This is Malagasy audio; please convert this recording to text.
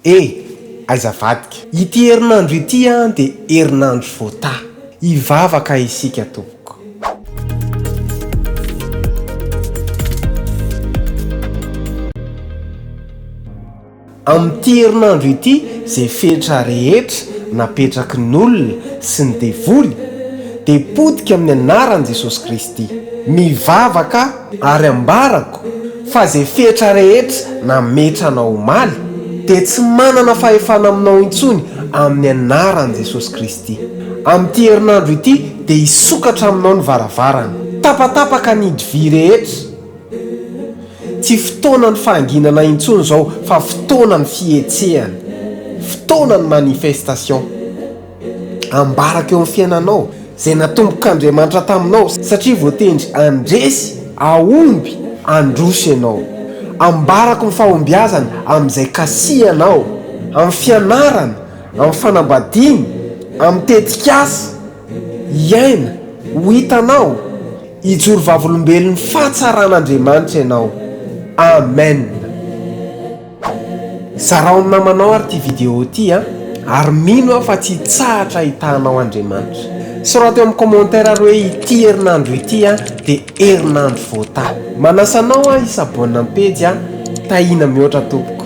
Eh! Aiza vadiko? Ity herinandro ity an dia herinandro voataha. Hivavaka isika tompoko. Amin'ity herinandro ity izay fetra rehetra napetraky ny olona sy ny devoly dia potika amin'ny anaran'i Jesosy Kristy. Mivavaka Ary ambarako fa izay fetra rehetra nametrana omaly dia tsy manana fahefana aminao intsony amin'ny anaran'i Jesosy Kristy. Amin'ity herinandro ity dia hisokatra aminao ny varavarana. Tapatapaka ny hidy vy rehetra. Tsy fotoanan'ny fahanginana intsony izao fa fotoanan'ny fihetsehana. Fotoanan'ny manifestation. ambarako eo amin'ny fiainanao, izay natombok'Andriamanitra taminao, satria voatendry handresy, hahomby, handroso ianao. Ambarako ny fahombiazany amin'izay kasihanao, amin'ny fianarana, amin'ny fanambadiana, amin'ny tetikasa, hiaina, ho hitanao, hijoro vavolombelon'ny fahatsaran'Andriamanitra ianao. Amen. Zarao amin'ny namanao ary ity vidéo ity a! ary mino aho fa tsy hitsahatra hitahanao Andriamanitra. Soraty eo amin'ny commentaire ary hoe ity herinandro ity a dia herinandro voatahy. Manasa anao aho hi-s'abonne amin'ny pejy a! Tahiana mihoatra tompoko.